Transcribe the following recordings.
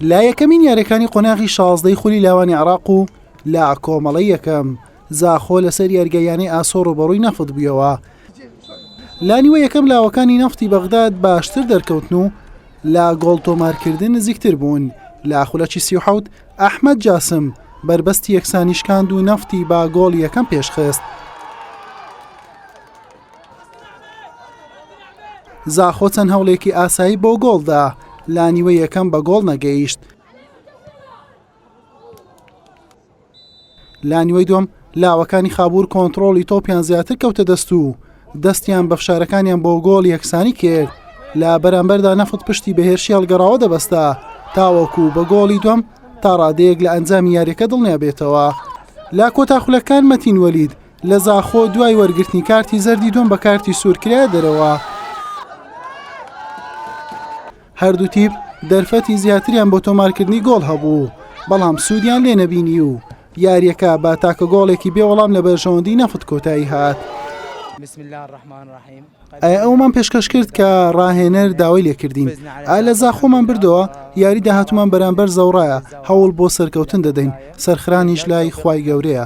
لە یەکەمین یاریەکانی قۆناغی شازدەی خولی لاوانی عراق و لە کۆمەڵی یەکەم زاخۆ لەسەر یارگەیانەی ئاسۆ ڕۆبەڕووی نەفت بوویەوە لانیوە یەکەم لاوەکانی نەفتی بەغداد باشتر دەرکەوتن و لە گۆڵ تۆمارکردن نزیکتر بوون لە خولەکی سیحوت ئەحمد جاسم بربەستی یەکسانیشکاند و نەفتی با گۆڵ یەکەم پێشخست زاخۆ چەند هەوڵێکی ئاسایی بۆ گۆڵدا لانیوە یەکەم بە گۆڵ نەگەیشت لانیوەی دوم لاوەکانی خابور کۆنتترۆڵی تۆپیان زیاتر کەوتە دەست و دەستیان بە فشارەکانیان بۆ گۆڵ یەکسانی کرد لە بەرامبەردا نەفت پشتی بەهێرشی هەڵگەڕاوە دەبەستە تاوەکو بە گۆڵی دوم تا ڕادەیەک لە ئەنجامی یاریەکە دڵنیابێتەوە لا کۆتاخولەکان مەتین وەلید لە زاخۆ دوای وەرگرتنی کارتی زەردی دوم بە کارتی سوور کرایە دەرەوە. هەردوو تیپ دەرفەتی زیاتریان بۆ تۆمارکردنی گۆڵ هەبوو بەڵام سوودیان لێ نەبینی و یاریەکە با تاکە گۆڵێکی بێ وەڵام لە بەرژەوەندی نەفت کۆتایی هات. ئایا ئەومان پێشکەش کرد کە ڕاهێنەر داوای لێکردین ئا لە زاخۆمان بردەوە یاری داهاتومان بەرامبەر زەوڕایە هەوڵ بۆ سەرکەوتن دەدەین سەرخرانیش لای خی گەورەیە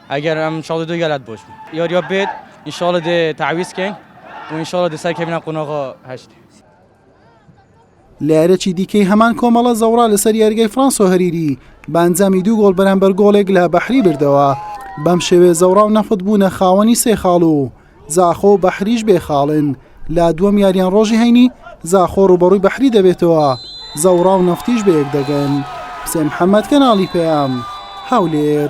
ئەگەر ئەم شاڵی دو گەلات بۆش بوو یۆریۆ بێت ئینشاڵە دێ تعویز کەین و ئینشاڵە دێ سەر کەمینە قونەغۆ هەشت. لەیارێکی دیکەی هەمان کۆمەڵە زەوڕا لەسەر یاریگای فرانسۆ هەریری بانجامی دوو گۆڵ بەرامبەر گۆڵێک لە بەحری بردەوە بەم شێوێ زەوڕا و نەفت بوونە خاوەنی سێ خاڵ و زاخۆ و بەحریش بێ خاڵن لا دووەم یاریان ڕۆژی هەینی زاخۆ ڕوبەڕووی بەحری دەبێتەوە زەوڕا و نەفتیش بەیەک دەگەن حسێن محەممەد کەناڵی پەیام هەولێر.